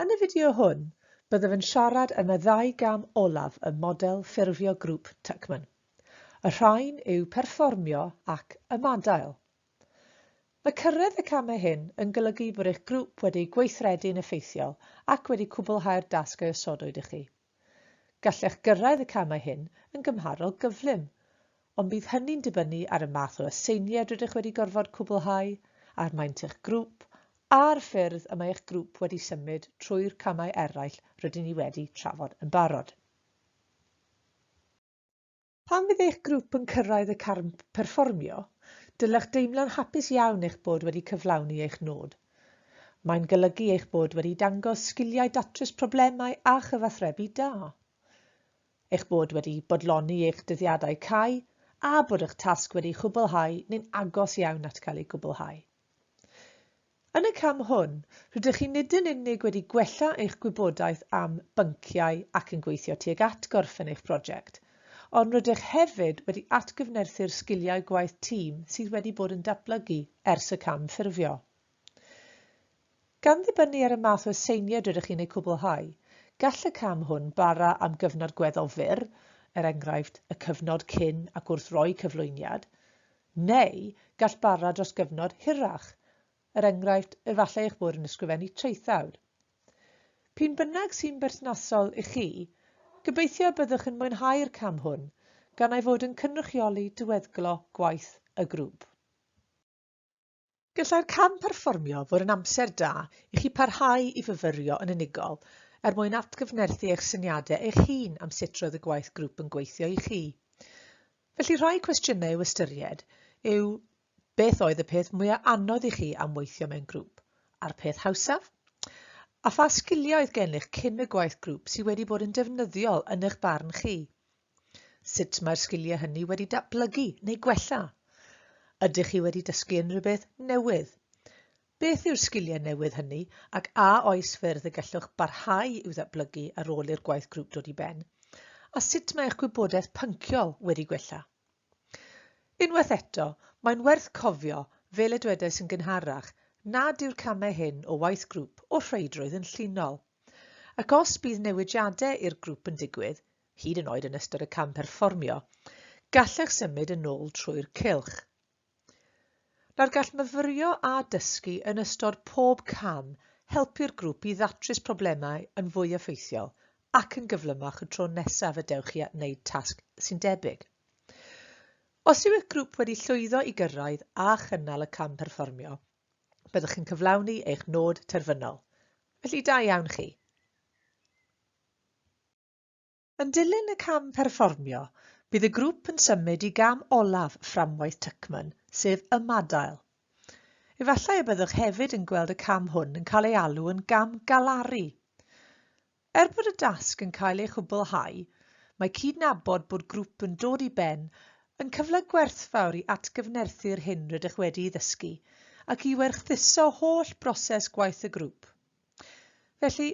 Yn y fideo hwn, byddaf yn siarad am y ddau gam olaf ym model ffurfio grŵp Tuckman. Y rhain yw perfformio ac ymadael. Mae cyrraedd y camau hyn yn golygu bod eich grŵp wedi gweithredu'n effeithiol ac wedi cwblhau'r dasg a osodwyd i chi. Gallech gyrraedd y camau hyn yn gymharol gyflym, ond bydd hynny'n dibynnu ar y math o aseiniad rydych wedi gorfod cwblhau, ar maint eich grŵp, a'r ffyrdd y mae eich grŵp wedi symud trwy'r camau eraill rydyn ni wedi trafod yn barod. Pan fydd eich grŵp yn cyrraedd y carn perfformio, dylech deimlo'n hapus iawn eich bod wedi cyflawni eich nod. Mae'n golygu eich bod wedi dangos sgiliau datrys problemau a chyfathrebu da, eich bod wedi bodloni eich dyddiadau cau a bod eich tasg wedi'i chwblhau neu'n agos iawn at gael ei gwblhau. Yn y cam hwn, rydych chi nid yn unig wedi gwella eich gwybodaeth am bynciau ac yn gweithio tuag at gorffen eich prosiect, ond rydych hefyd wedi atgyfnerthu'r sgiliau gwaith tîm sydd wedi bod yn datblygu ers y cam ffurfio. Gan ddibynnu ar y math o aseiniad rydych chi'n eu cwblhau, gall y cam hwn bara am gyfnod gweddol fyr, er enghraifft, y cyfnod cyn ac wrth roi cyflwyniad, Neu gall bara dros gyfnod hirach, er enghraifft, efallai eich bod yn ysgrifennu traethawd. P'un bynnag sy'n berthnasol i chi, gobeithio y byddwch yn mwynhau'r cam hwn, gan ei fod yn cynrychioli diweddglo gwaith y grŵp. Gallai'r cam perfformio fod yn amser da i chi parhau i fyfyrio yn unigol er mwyn atgyfnerthu eich syniadau eich hun am sut roedd y gwaith grŵp yn gweithio i chi. Felly rhai cwestiynau i'w ystyried yw beth oedd y peth mwyaf anodd i chi am weithio mewn grŵp, a'r peth hawsaf? A pha sgiliau oedd gennych cyn y gwaith grŵp sydd wedi bod yn defnyddiol yn eich barn chi? Sut mae'r sgiliau hynny wedi datblygu neu gwella? Ydych chi wedi dysgu unrhyw beth newydd? Beth yw'r sgiliau newydd hynny ac a oes ffyrdd y gallwch barhau i'w ddatblygu ar ôl i'r gwaith grŵp dod i ben? A sut mae eich gwybodaeth pynciol wedi gwella? Unwaith eto, mae'n werth cofio, fel y dwedais yn gynharach, nad yw'r camau hyn o waith grŵp o'r rheidrwydd yn llinol. Ac os bydd newidiadau i'r grŵp yn digwydd, hyd yn oed yn ystod y cam perfformio, gallech symud yn ôl trwy'r cylch. Nawr gall myfyrio a dysgu yn ystod pob cam helpu'r grŵp i ddatrys problemau yn fwy effeithiol ac yn gyflymach y tro nesaf y dewch chi at wneud tasg sy'n debyg. Os yw eich grŵp wedi llwyddo i gyrraedd a chynnal y cam perfformio, byddwch chi'n cyflawni eich nod terfynol. Felly da iawn chi! Yn dilyn y cam perfformio, bydd y grŵp yn symud i gam olaf fframwaith Tuckman, sef ymadael. Efallai y byddwch hefyd yn gweld y cam hwn yn cael ei alw yn gam galaru. Er bod y dasg yn cael ei chwblhau, mae cydnabod bod grŵp yn dod i ben yn cyfle gwerthfawr i atgyfnerthu'r hyn rydych wedi'i ddysgu ac i werthuso holl broses gwaith y grŵp. Felly,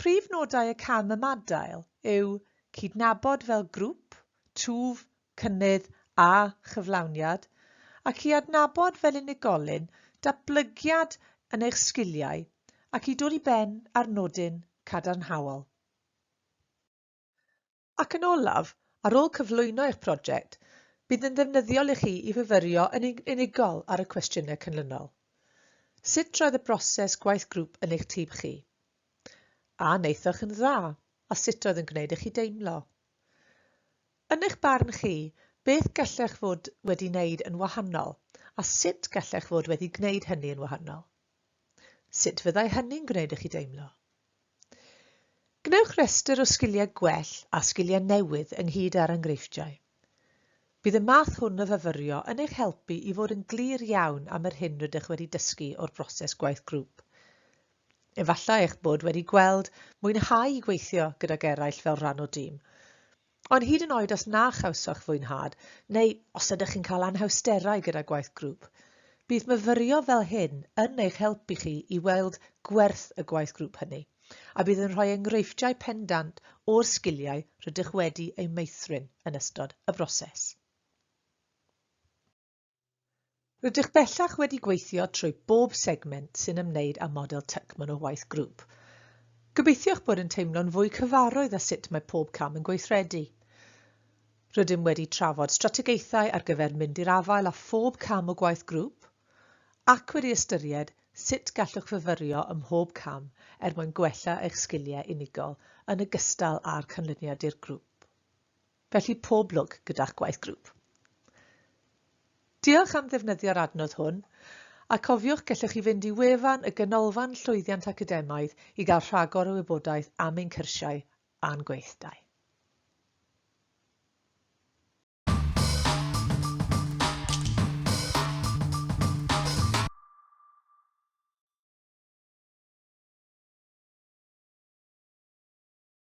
Prif nodau y cam ymadael yw cydnabod fel grŵp, twf, cynnydd a chyflawniad, ac i adnabod fel unigolyn datblygiad yn eich sgiliau ac i dod i ben â'r nodyn cadarnhaol. Ac yn olaf, ar ôl cyflwyno eich project, bydd yn ddefnyddiol i chi i fyfyrio yn unigol ar y cwestiynau cynlynol. Sut roedd y broses gwaith grŵp yn eich tîm chi? A wnaethoch yn dda, a sut oedd yn gwneud i chi deimlo? Yn eich barn chi, beth gallech fod wedi wneud yn wahanol, a sut gallech fod wedi gwneud hynny yn wahanol? Sut fyddai hynny'n gwneud i chi deimlo? Gwnewch restr o sgiliau gwell a sgiliau newydd ynghyd â'r enghreifftiau. Bydd y math hwn o fyfyrio yn eich helpu i fod yn glir iawn am yr hyn rydych wedi dysgu o'r broses gwaith grŵp. Efallai eich bod wedi gweld mwynhau gweithio gydag eraill fel rhan o dîm. Ond hyd yn oed os na chawsoch fwynhad, neu os ydych chi'n cael anhawsterau gyda gwaith grŵp, bydd myfyrio fel hyn yn eich helpu chi i weld gwerth y gwaith grŵp hynny, a bydd yn rhoi enghreifftiau pendant o'r sgiliau rydych wedi eu meithrin yn ystod y broses. Rydych bellach wedi gweithio trwy bob segment sy'n ymwneud â model Tuckman o waith grŵp. Gobeithio'ch bod yn teimlo'n fwy cyfarwydd â sut mae pob cam yn gweithredu. Rydym wedi trafod strategaethau ar gyfer mynd i'r afael â phob cam o gwaith grŵp ac wedi ystyried sut gallwch fyfyrio ym mhob cam er mwyn gwella eich sgiliau unigol yn ogystal â'r canlyniad dirgrŵp. Felly pob lwc gyda'ch gwaith grŵp. Diolch am ddefnyddio'r adnodd hwn, a cofiwch gellwch chi fynd i wefan y Ganolfan Llwyddiant Academaidd i gael rhagor o wybodaeth am ein cyrsiau a'n gweithdai.